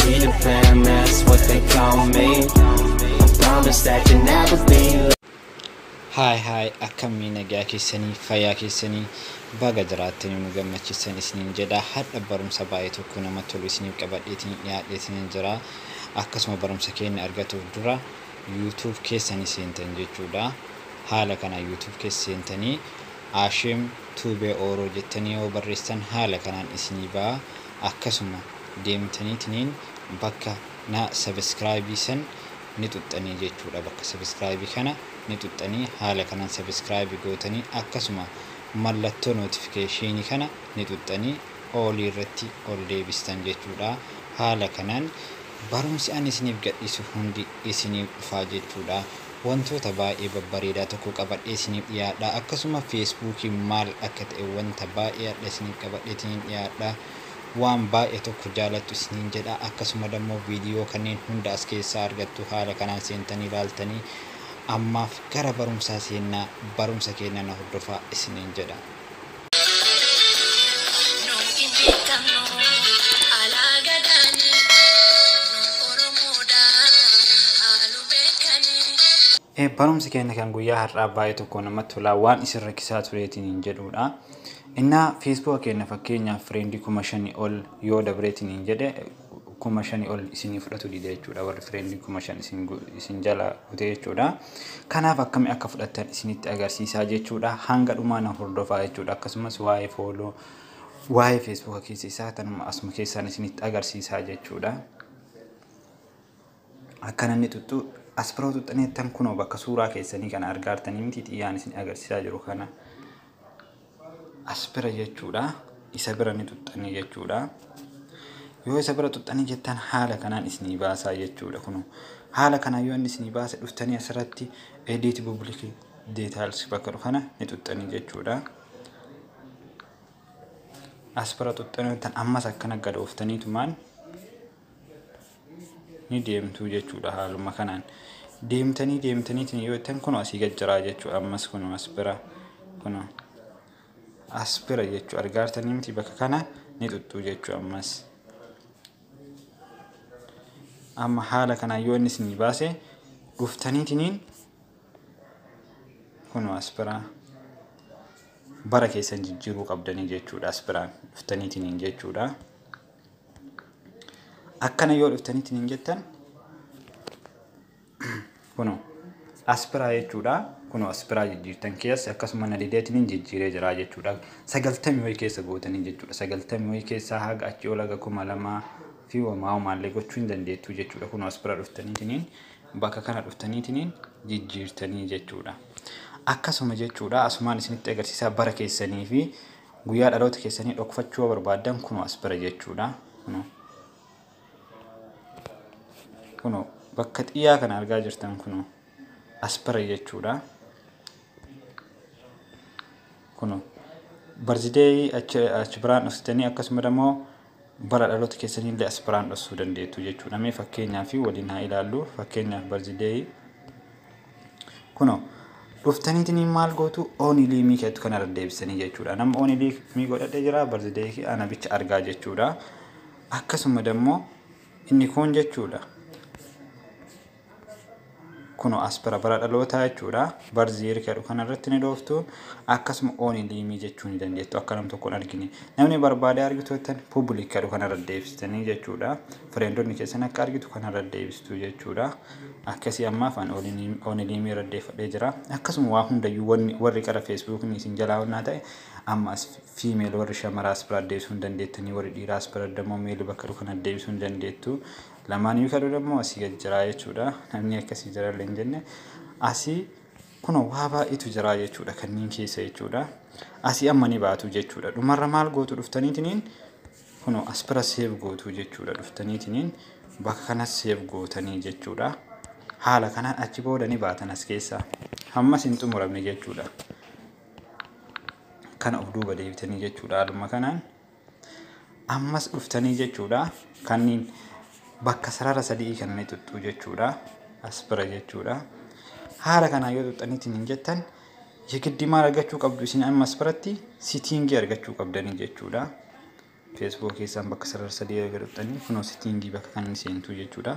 Be the fam, that's what they call me. I promise that you never be late. Haay haay akkamii nagaa keessanii fayyaa keessanii baga jiraattanii nu gammachiisan isiniin jedha hadha barumsa baay'ee tokko nama tolu isiniif qabadheetiin dhiyaadheetiin jira akkasuma barumsa keenya argatuuf dura yuutuub keessanii seentan jechuudha haala kana yuutuub keessa seentanii Ashim Tuubee Ooroo jettanii yoo barreessan haala kanaan isinii ba'a akkasuma deemtaniitiniin bakka na subscribe san ni xuxxanii jechuudha bakka subscribe kana ni xuxxanii haala kanan subscribe gootanii akkasuma mallattoo notification kana ni xuxxanii all irratti ol deebistan jechuudha haala kanaan barumsi ani isiniif gadhiisu hundi isiniif dhufaa jechuudha Wantoota baay'ee babbareedaa tokko qabadhee isiniif dhiyaadha. Akkasuma Facebook maal akka ta'e wanta baay'ee hadha isiniif qabadheetinin dhiyaadha. Waan baay'ee tokko jaalattu isiniin jedha. Akkasuma dammoo viidiyoo kanneen hunda as keessaa argattu haala kanaan seentanii ilaaltanii ammaaf gara barumsaa seennaa barumsa keenna na hordofaa isiniin jedha. Barumsi keenya kan guyyaa har'aa baay'ee tokko namatti tolaa waan isin rakkisaa tureetiin hin jedhuudha. Innaa feesbuuka keenya fakkeenyaaf fireendii kuma shanii ol yoo dabreetiin hin jedhe kuma shani ol isinii fudhatu dide jechuudha warri friend kuma shan isin isin jala kute jechuudha kanaaf akkami akka fudhattan isinitti agarsiisaa jechuudha hanga dhumaa na hordofaa jechuudha akkasumas waa'ee fooloo waa'ee feesbuuka keessa isaa tanuma asuma keessaan isinitti agarsiisaa jechuudha Akka namni xuxxuu asbiroo xuxxaneettan kunoo bakka suuraa keessanii kana argaartanii miti xiyyaan isin agarsiisaa jiru kana asbira jechuudha isa bira ni xuxxanii jechuudha yoo isa bira xuxxanii jettan haala kanaan isinii baasaa jechuudha kunoo haala kanaan yoo inni isinii baase dhuftanii asirratti edit public details bakka kana ni xuxxanii jechuudha asbira xuxxanii tan ammas akkana gadooftaniitumaan ni deemtuu jechuudha haaluma kanaan deemtanii deemtaniitiin yoo ittiin kun asii gad jiraa jechuudha ammas kun as bira kun as bira jechuudha argaartanii miti bakka kana ni tuttuu jechuudha ammas amma haala kanaan yoo inni isinii baase dhuftaniitiin kun as biraa bara keessan jijjiiruu qabdanii jechuudha as biraan dhuftaniitiin jechuudha. akkana yoo dhuftanitti hin jettan kuno aspiraa jechuudha kuno aspiraa jijjiirtan keessa akkasuma na dideetiin hin jijjiiree jiraa jechuudha sagaltamii wayii keessa gootanii jechuudha sagaltamii wayii keessaa haga achii ol haga kuma lamaa fi wamaa homaallee gochuu hin dandeettuu jechuudha kuno aspiraa dhuftaniitiin bakka kana dhuftaniitiin jijjiirtanii jechuudha akkasuma jechuudha asumaan isinitti agarsiisaa bara keessanii fi Guyyaa dhaloota keessanii dhokfachuu yoo barbaaddan kunoo as bira jechuudha. Kunoo. Kunoo bakka xiyyaa kana argaa jirtan kunoo as bira jechuudha. Kunoo barzideeyii achi achi biraan dhuftanii akkasuma immoo Bara dhaloota keessaniillee as biraan dhossuu dandeettu jechuudha. Mee fakkeenyaa fi waliin haa ilaallu. Fakkeenyaaf barzideeyi. Kuno dhuftaniitiin maal gootu oonilii mii keettu kana irra deebisanii jechuudha. Nama oonilii mii godhadhe jira barzideeyi kee ana bicha argaa jechuudha. Akkasuma dammoo inni kuun jechuudha. Kuno as bara bara dhalootaa jechuudha. Birth year kan jedhu kanarratti ni dhooftu. Akkasuma ooni liimii jechuu ni dandeettu akka nam tokkoon argine. Namni barbaadee argitu jettan public kan jedhu kanarra deebistanii jechuudha. Fireendonni keessan akka argitu kanarra deebistu jechuudha. Akkasii ammaaf an ooni liimii irra deeffadhee jira. Akkasuma waa hundayyuu wanni warri qara feesbuukni isin jalaa onnaa ta'e amma as fiimeel warri shamaraas bira deebisuu ni dandeettanii warri dhiiraas bira dammoo meeli bakka jedhu kana deebisuu ni dandeettu. Lamaan iyyuu ta'uu danda'u asii gad jiraa jechuudha. Namni akkasii jira illee hin jenne. Asii kunoo waa baay'eetu jiraa jechuudha kanneen keessa jechuudha. Asii amma ni baatu jechuudha. Dhumarra maal gootu dhuftaniitiniin kunoo as bira seef gootu jechuudha dhuftaniitiniin bakka kanas seef gootanii jechuudha. Haala kanaan achi booda ni baatan as keessaa. Hammas hin xumuramne jechuudha. Kana of duuba deebitanii jechuudha haaluma kanaan. Ammas dhuftanii jechuudha. Kanniin bakka sarara sadii kana ni tuttuu jechuudha. As bira jechuudha. Haala kanaan yoo tuttaniitiin hin jettan yegiddi maal argachuu qabdu isin ammas biratti sitiingii argachuu qabdanii jechuudha. Feesbuukii keessaan bakka sarara sadii erga tuttanii kunoo sitiingii bakka kan seentuu jechuudha.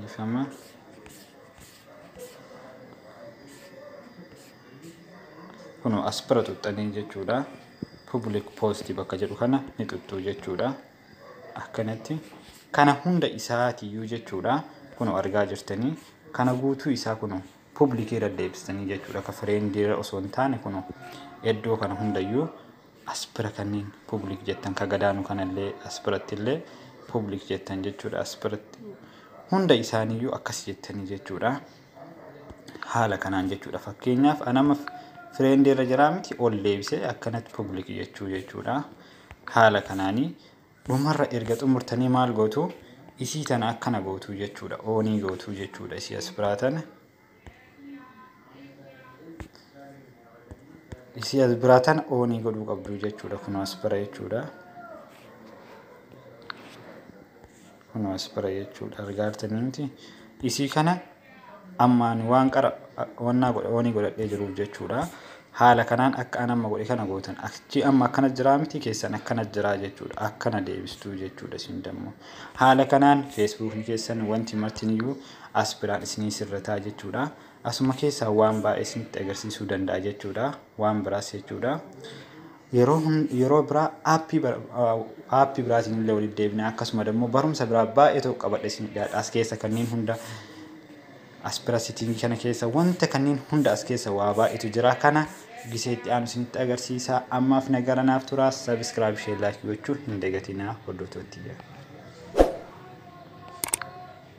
Dhiifama. Kunoo as bira xuxxanii jechuudha. Public post bakka jedhu kana ni xuxxuu jechuudha. Akkanatti kana hunda isaatiyyuu jechuudha. Kunoo argaa jirtanii kana guutuu isaa kunoo public irra deebistanii jechuudha. Akka fireendiirra osoo hin taane kunoo iddoo kana hundayyuu As bira kanniin public jettan ka gadaanu kanallee as birattillee public jettan jechuudha. As biratti hunda isaaniiyyuu akkas jettanii jechuudha. Haala kanaan jechuudha. Fakkeenyaaf an amma friend irra jiraa miti ol deebisee akkanatti public jechuu jechuudha. Haala kanaanii dhumarra erga xumurtanii maal gootu isii tana akkana gootu jechuudha. Oonii gootu jechuudha isii as biraa tana. Isii as biraa tana oonii godhuu qabdu jechuudha. Kun as bira jechuudha. Kun as bira jechuudha. Argaartanii miti. Isii kana ammaan waan qara wannaa godha oonii godhadhee jiruuf jechuudha. Haala kanaan akka an amma godhe kana gootan achi amma akkana jiraa miti keessan akkana jiraa jechuudha. Akkana deebistuu jechuudha isin dammoo. Haala kanaan feesbuukni keessan wanti martiniyyuu as biraan isinii sirretaa jechuudha. Asuma keessaa waan baay'ee isinitti agarsiisuu danda'a jechuudha. Waan biraas jechuudha. Yeroo hun- yeroo biraa aappii bara- ah, aappii biraatiin illee walitti deebina. Akkasuma immoo barumsa biraa baay'ee tokko qabadhe isin dhiyaadha. As keessa kanneen hunda as bira sitiingii kana keessa wanta kanneen hunda as keessa waa baay'eetu jira. Kana gisee itti aanu isinitti agarsiisa. Ammaaf nagara naaf turaa. Sabiskiraayib ishee laayik gochuu hin dagatinaa hordoftoottiyyee.